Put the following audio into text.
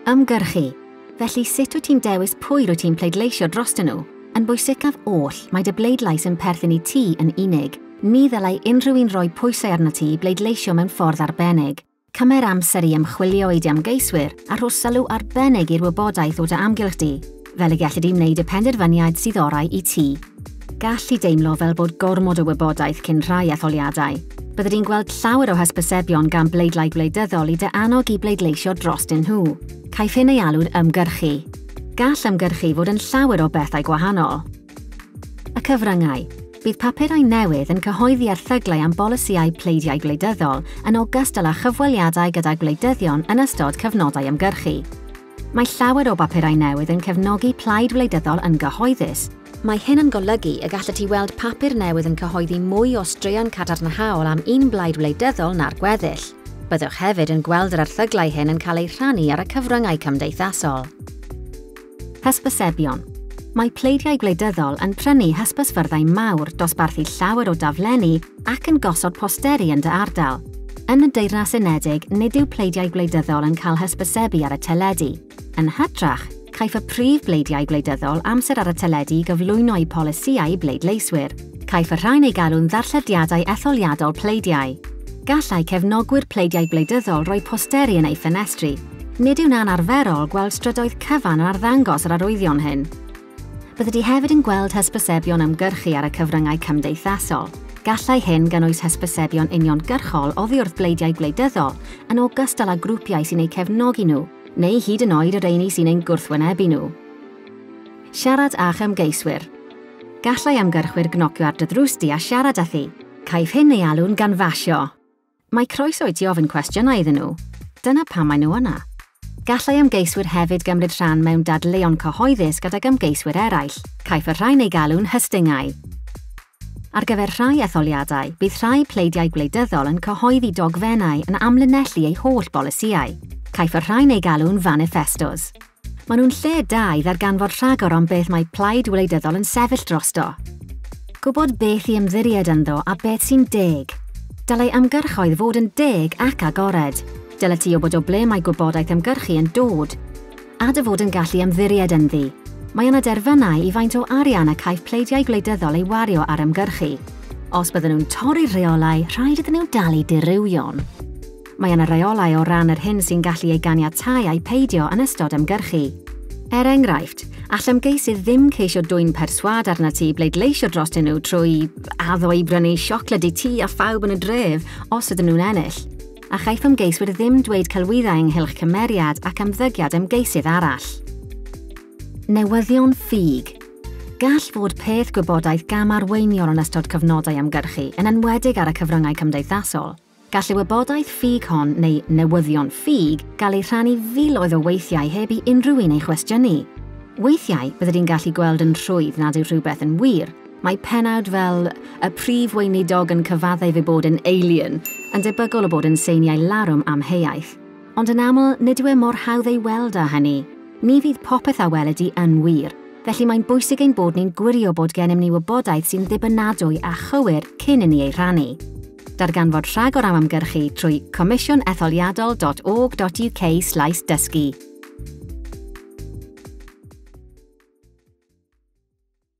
Ymgyrchu. Felly sut wyt ti'n dewis pwy rwyt ti'n pleidleisio drostyn nhw? Yn bwysicaf oll, mae dy bleidlais yn perthyn i ti yn unig. Ni ddylai unrhyw un roi pwysau arnat ti i bleidleisio mewn ffordd arbennig. Cymer amser i ymchwilio i dy ymgeiswyr a rho sylw arbennig i'r wybodaeth o dy amgylch di. fel y gelli di wneud y penderfyniad sydd orau i ti. Gallu deimlo fel bod gormod o wybodaeth cyn rhai etholiadau. Bydde di'n gweld llawer o hysbysebion gan bleidlaid wleidyddol i dy annog i bleidleisio drostyn nhw. Caiff hyn ei alw'n ymgyrchu. Gall ymgyrchu fod yn llawer o bethau gwahanol. Y cyfryngau. Bydd papurau newydd yn cyhoeddi erthyglau am bolisïau pleidiau gwleidyddol yn ogystal â chyfweliadau gyda gwleidyddion yn ystod cyfnodau ymgyrchu. Mae llawer o bapurau newydd yn cefnogi plaid wleidyddol yn gyhoeddus. Mae hyn yn golygu y gallet ti weld papur newydd yn cyhoeddi mwy o straeon cadarnhaol am un blaid wleidyddol na'r gweddill. Byddwch hefyd yn gweld yr erthyglau hyn yn cael eu rhannu ar y cyfryngau cymdeithasol. Hysbysebion. Mae pleidiau gwleidyddol yn prynu hysbysfyrddau mawr, dosbarthu llawer o daflenni, ac yn gosod posteri yn dy ardal. Yn y Deyrnas Unedig, nid yw pleidiau gwleidyddol yn cael hysbysebu ar y teledu. Yn hytrach, caiff y prif bleidiau gwleidyddol amser ar y teledu i gyflwyno'u polisïau i bleidleiswyr. Caiff y rhain eu galw'n ddarllediadau etholiadol pleidiau. Gallai cefnogwyr pleidiau gwleidyddol roi posteri yn eu ffenestri. Nid yw'n anarferol gweld strydoedd cyfan yn arddangos yr arwyddion hyn. Byddet ti hefyd yn gweld hysbysebion ymgyrchu ar y cyfryngau cymdeithasol. Gallai hyn gynnwys hysbysebion uniongyrchol oddi wrth bleidiau gwleidyddol, yn ogystal â grwpiau sy'n eu cefnogi nhw, neu hyd yn oed y rheini sy'n ein gwrthwynebu nhw. Siarad â'ch ymgeiswyr. Gallai ymgyrchwyr gnocio ar dy ddrws di a siarad â thi. Caiff hyn ei alw'n ganfasio. Mae croeso i ti ofyn cwestiynau iddyn nhw. Dyna pam maen nhw yna. Gallai ymgeiswyr hefyd gymryd rhan mewn dadleuon cyhoeddus gydag ymgeiswyr eraill. Caiff y rhain eu galw'n hystyngau. Ar gyfer rhai etholiadau, bydd rhai pleidiau gwleidyddol yn cyhoeddi dogfennau yn amlinellu eu holl bolisïau. Caiff y rhain eu galw'n faniffestos. Maen nhw'n lle da i ddarganfod rhagor am beth mae plaid wleidyddol yn sefyll drosto. Gwybod beth i ymddiried ynddo a beth sy'n deg. Dylai ymgyrchoedd fod yn deg ac agored. Dyle ti wybod o ble mae gwybodaeth ymgyrchu yn dod. A dy fod yn gallu ymddiried ynddi. Mae yna derfynau i faint o arian y caiff pleidiau gwleidyddol ei wario ar ymgyrchu. Os bydden nhw'n torri'r rheolau, rhaid iddyn nhw dalu dirywio'n. Mae yna reolau o ran yr hyn sy'n gallu ei ganiatáu ai peidio yn ystod ymgyrchu. Er enghraifft, all ymgeisydd ddim ceisio dwyn perswâd arnat ti i bleidleisio drostyn nhw trwy addo i brynu siocled i ti a phawb yn y dref os ydyn nhw'n ennill. A chaiff ymgeiswyr ddim dweud celwyddau ynghylch cymeriad ac ymddygiad ymgeisydd arall. Newyddion ffug. Gall fod peth gwybodaeth gam-arweiniol yn ystod cyfnodau ymgyrchu, yn enwedig ar y cyfryngau cymdeithasol. Gall y wybodaeth ffug hon, neu newyddion ffug, gael eu rhannu filoedd o weithiau heb i unrhyw un ei chwestiynu. Weithiau, byddet ti'n gallu gweld yn rhwydd nad yw rhywbeth yn wir. Mae pennawd fel 'Y Prif Weinidog yn Cyfaddef ei Bod yn Alien' yn debygol o bod yn seiniau larwm amheuaeth. Ond yn aml, nid yw e mor hawdd ei weld â hynny. Ni fydd popeth a weled di yn wir. Felly, mae'n bwysig ein bod ni'n gwirio bod gennym ni wybodaeth sy'n ddibynadwy a chywir cyn inni ei rhannu. Darganfod rhagor am ymgyrchu trwy comisiwnetholiadol.org.uk/dysgu.